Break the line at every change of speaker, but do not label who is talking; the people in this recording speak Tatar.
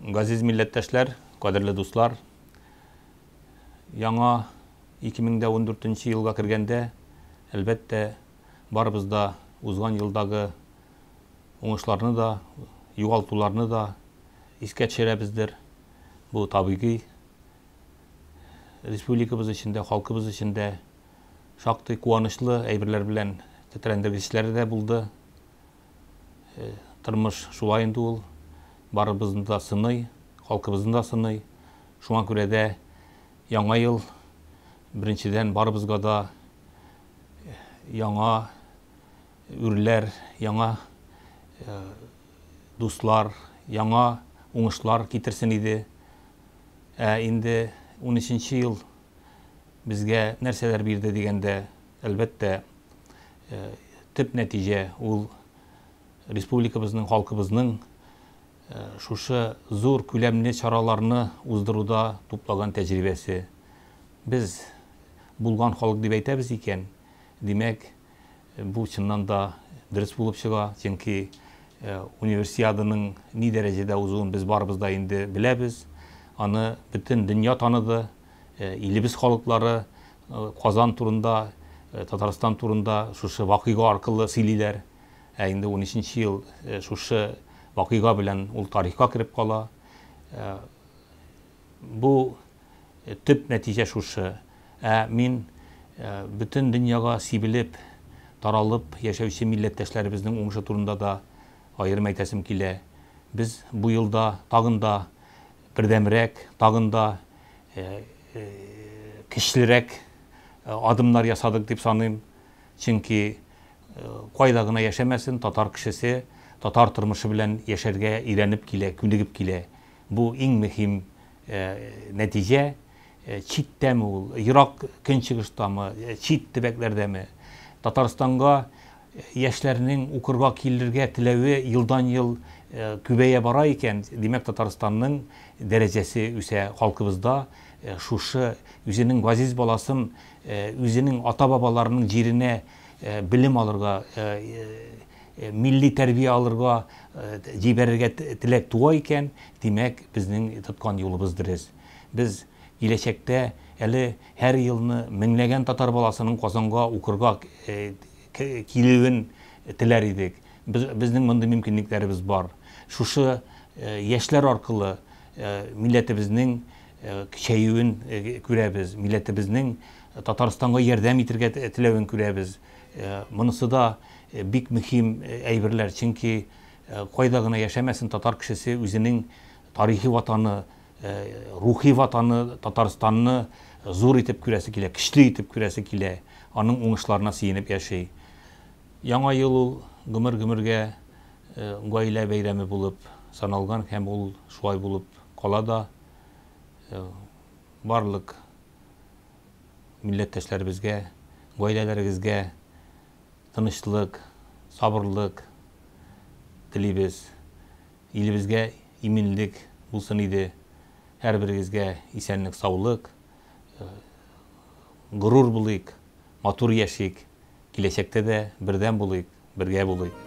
Газиз милләттәшләр, кадерле дуслар, яңа 2014 елга кергәндә, әлбәттә, барыбыз да узган елдагы Уңышларны да, югалтуларны да искә төшерәбездер. Бу табигый. Республикабыз өчен дә, халкыбыз өчен дә шактый куанычлы әйберләр белән тетрәндергечләре дә булды. Э, тормыш шулай инде ул. Барыбызны да сыный, халкыбызны да сыный. Шуңа күрә дә яңа ел беренчедән барыбызга да э, яңа үрләр, яңа дуслар, яңа уңышлар китерсен иде. Ә инде унөченче ел безгә нәрсәләр бирде дигәндә, әлбәттә, төп нәтиҗә ул республикабызның, халкыбызның шушы зур күләмле чараларны уздыруда туплаган тәҗрибәсе. Без булган халык дип әйтәбез икән, димәк, Бу чыннан да дөрес булып чыга, чөнки Универсиаданың ни дәрәҗәдә узуын без барыбыз да инде беләбез. Аны бөтен дөнья таныды, илебез халыклары Казан турында, Татарстан турында шушы вакыйга аркылы сөйлиләр. Ә инде унөченче ел шушы вакыйга белән ул тарихка кереп кала. Бу төп нәтиҗә шушы. Ә мин бөтен дөньяга сибелеп, таралып яшәүче милләттәшләребезнең уңышы турында да аерым әйтәсем килә. Без бу елда тагын да бердәмрәк, тагын да көчлерәк адымнар ясадык дип саныйм. Чөнки кайда гына яшәмәсен, татар кешесе татар тормышы белән яшәргә өйрәнеп килә, күнегеп килә. Бу иң мөһим нәтиҗә. Читтәме ул, ерак көнчыгыштамы, чит төбәкләрдәме, Татарстанга яшьләрнең укырга килергә теләве елдан-ел күбәя бара икән, димәк, Татарстанның дәрәҗәсе үсә, халкыбыз да шушы үзенең газиз баласын үзенең ата-бабаларының җиренә белем алырга, милли тәрбия алырга җибәрергә теләк туа икән, димәк, безнең тоткан юлыбыз дөрес. Без киләчәктә әле һәр елны меңләгән татар баласының Казанга укырга килүен теләр идек. Безнең мондый мөмкинлекләребез бар. Шушы яшьләр аркылы милләтебезнең көчәюен күрәбез, милләтебезнең Татарстанга ярдәм итергә теләвен күрәбез. Монысы да бик мөһим әйберләр, чөнки кайда гына яшәмәсен, татар кешесе үзенең тарихи ватаны, рухи ватаны Татарстанны зур итеп күрәсе килә, көчле итеп күрәсе килә, аның уңышларына сөенеп яши. Яңа ел ул гомер-гомергә гаилә бәйрәме булып саналган һәм ул шулай булып кала да. Барлык. милләттәшләребезгә, гаиләләрегезгә тынычлык, сабырлык телибез. Илебезгә иминлек булсын иде. Һәрберегезгә исәнлек-саулык. Горур булыйк, матур яшик, киләчәктә дә бердәм булыйк. Бергә булыйк!